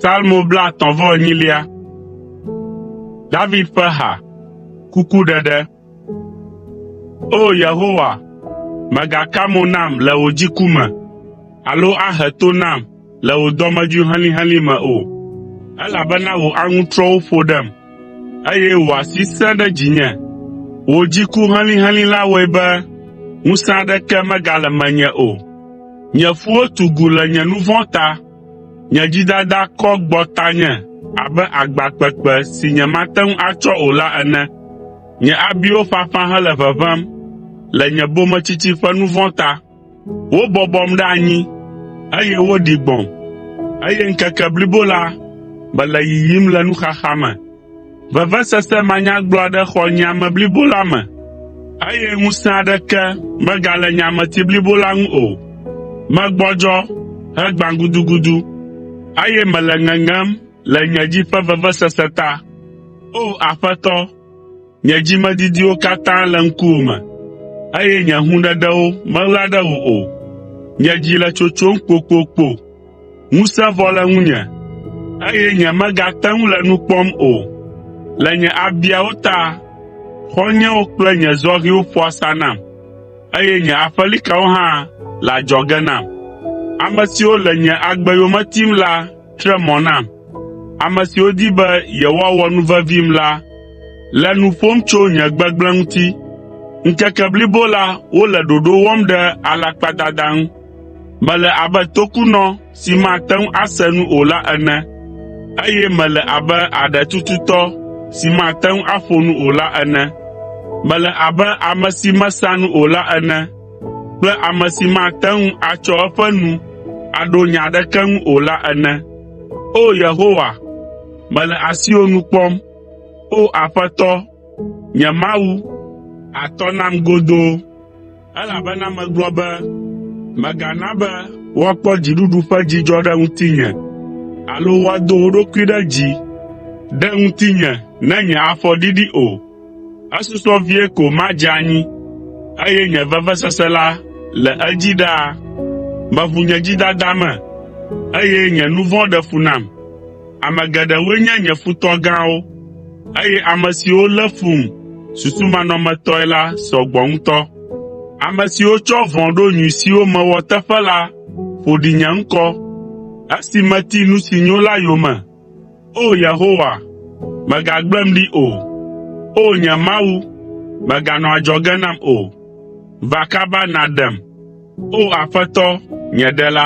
Salmo blaetɔ̃ vɔ enyilia. David ƒe ha. Kukuɖeɖe. O Yehowa, mègaka mo nam le wò dziku me, alo ahe to nam le wò dɔmedzoe helĩhelĩ me o, elabena wò aŋutrɔwo ƒo ɖem. Eye wò asi sẽ ɖe dzinye. Wò dziku helĩhelĩ la wɔe be ŋusẽ aɖeke megale menye o. Nye ƒuwo tu gu le nye nu vɔ̃ ta. Nye dzidada kɔ gbɔ tanye abe agba kpekpe si nyemate ŋu atsɔ o la ene. Nye abiwo ƒaƒã hele ʋeʋẽm le nye bometsitsi ƒe nu vɔ̃ ta. Wobɔbɔm ɖe anyi, eye woɖi gbɔ̃m, eye ŋkeke blibo la mele yiyim le nuxaxa me. Vevesese manyagblɔ aɖe xɔ nye ame blibo la me, eye ŋusẽ aɖeke megale nye ameti blibo la ŋu o. Megbɔdzɔ hegbã gudugudu, eye mele ŋeŋem le nye dzi ƒe vevesese ta. O! Aƒetɔ, Nye dzimedidiwo katã le ŋkuwò me, eye nye hũɖeɖewo meɣla ɖe wò o. Nye dzi le tsotsom kpokpokpo, ŋusẽ vɔ le ŋunye, eye nyemegate ŋu le nu kpɔm o. Le nye abiawo ta, xɔ̃nyewo kple nye zɔhɛwo ƒo asa nam, eye nye aƒelikawo hã le adzɔge nam. Ame siwo le nye agbe yome tim la Tre mɔ nam. Ame siwo di be yewoawɔ nu vevim la le nu ƒom tso nye gbegblẽ ŋuti. Ŋkeke blibo la wole ɖoɖo wɔm ɖe alakpadada ŋu. Mele abe tokunɔ si mate ŋu ase nu o la ene, eye mele abe aɖe tututɔ si mate ŋu aƒo nu o la ene. Mele abe ame si mesã nu o la ene. kple ame si mate ŋu atsɔ eƒe nu aɖo nya aɖeke ŋu o la ene. O Yehowa, mele asiwò nu kpɔm. O Aƒetɔ, nye Mawu, àtɔ nam godoo, elabena megblɔ be, “Mègana be woakpɔ dziɖuɖu ƒe dzidzɔ ɖe ŋutinye, alo woado wo ɖokui ɖe dzi ɖe ŋutinye ne nye afɔ ɖiɖi o.” Esusɔ vie ko madze anyi, eye nye vevesese la le edzi ɖaa. Meʋu nye dzidada me, eye nye nu vɔ̃ ɖe fu nam. Ame geɖewoe nye nye futɔ gãwo, eye ame siwo lé fum susumanɔmetɔe la sɔ gbɔ ŋutɔ. Ame siwo tsɔ vɔ̃ ɖo nyui siwo mewɔ teƒe la ƒo ɖi nye ŋkɔ, esi meti nu si nyo la yome. O Yehowa, mègagblẽm ɖi o. O nye Mawu, mèganɔ adzɔge nam o. Va kaba nàɖem, O Aƒetɔ, nye Ɖela.